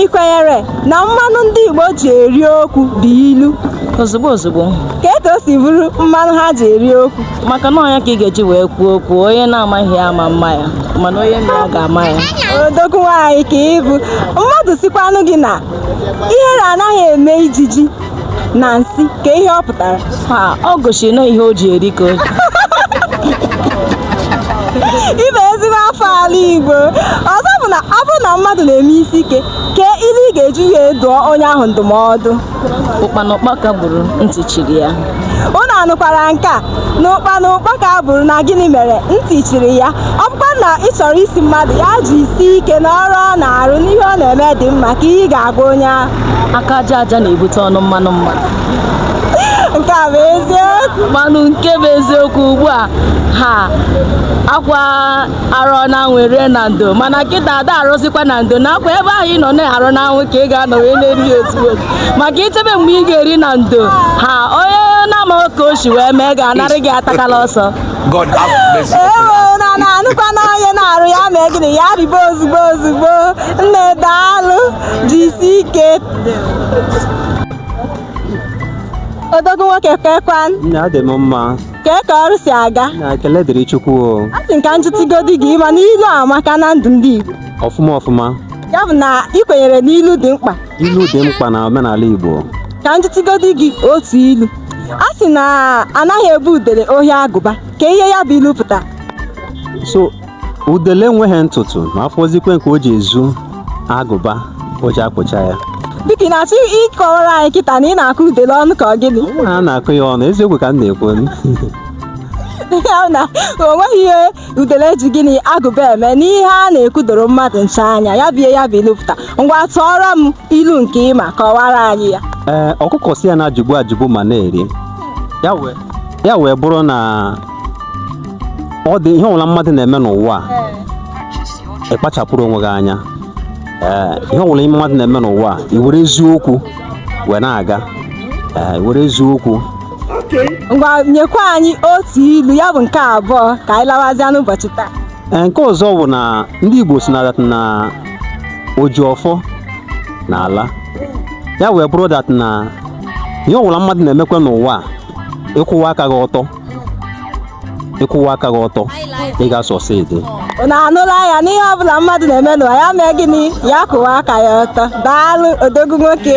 ị kwenyere na mmanụ ndị Igbo ji eri okwu bụ ilu ozugbo ozugbo kee etu o si bụrụ mmanụ ha ji eri okwu maka na ọ nya ka ị ga-eji wee kwuo okwu onye na-amaghị ya ama ama ya mana onye ma ya ga-ama ya odogwu nwaanyị ka ị bụ mmadụ sịkwanụ gị na ihere anaghị eme ijiji na nsị kee ihe ọ pụtara ha ọ gosiri na ihe o ji eri ka o ji ị bụ ezi nwa afọ ala Igbo ọzọ bụ na ọ bụrụ na mmadụ na-eme isi ike kee ilu ị ga-eji wee dụọ onye ahụ ndụmọdụ ụkpana okpoko gburu ntị chiri ya unu anụkwara nke a na ụkpana okpoko gburu na gịnị mere ntị chiri ya ọ bụkwa na ị chọrọ ịsị mmadụ ya jisi ike na ọrụ ọ na-arụ n'ihe ọ na-eme dị mma kee ihe ị ga-agwa onye ahụ aka aja aja na-ebute ọnụ mmanụ mmanụ nke a bụ eziokwu mana nke bụ eziokwu ugbu a ha ọkwa a rụọ n'anwụ e rie na ndo mana kịta a da-erizikwa na ndo na ọkwa ebe ahụ ị nọ na-arụ n'anwụ ka ị ga-anọ wee na-eri ya ozugbo maka i chebe mgbe ị ga-eri na ndo ha onye na-amaghị ka o si wee mee ga-anarị gị atakala ọsọ God have mercy. ewo unu na-anụkwa na onye na-arụ ya mee gịnị ya ribe ozugbo ozugbo nne daalụ jisi ike odogwu nwoke kee kwanụ nne adị m mma kee ka ọrụ si aga na ekele dịrị Chukwu o a sị ka m jụtụgodi gị ma na ilu amaka na ndụ ndị Igbo ọfụma ọfụma ya bụ na ị kwenyere na ilu dị mkpa ilu dị mkpa na omenala Igbo ka m jụtụgodi gị otu ilu a sị na anaghị ebo udele ohi agụba kee ihe ya bụ ilu pụta so udele enweghị ntutu ma ya fọzikwa nke o ji ezu agụba o ji akpụcha ya biko ị na-achọ ịkọwara anyị kịta na ị na-akọ udele ọnụ ka ọ gịnị nwa ha na-akọ ya ọnụ eziokwu ka m na-ekwu ya na o nweghị ihe udele ji gịnị agụba eme n'ihe a na-ekwudoro mmadụ ncha ọ nya bụ ihe ya bụ ilu pụta ngwa tụọrọ m ilu nke ị ma kọwara anyị ya ee ọkụkọ sị ya na-ajụgbu ajụgbu ma na-eri ya wee ya wee bụrụ na ọ dị ihe ọbụla mmadụ na-eme n'ụwa a ị kpachapụrụ onwe gị anya ee ihe ọbụla mmadụ na-eme n'ụwa a i were eziokwu wee na-aga ee i were eziokwu ngwa nyekwa anyị otu ilu ya bụ nke abụọ ka anyị lawazịa n'ụbọchị taa Ee, nke ọzọ bụ na ndị Igbo sị na dat na oji ọfọ na-ala ya wee bụrụ dat na ihe ọbụla mmadụ na-emekwa n'ụwa a, ị kwụwa aka gị ọtọ ị kwụwa aka gị ọtọ ị ga-asucceed unu anụla ya n'ihe ọbụla mmadụ na-eme n'ụwa ya mee gịnị ya kwụwa aka ya ọtọ daalụ odogwu nwoke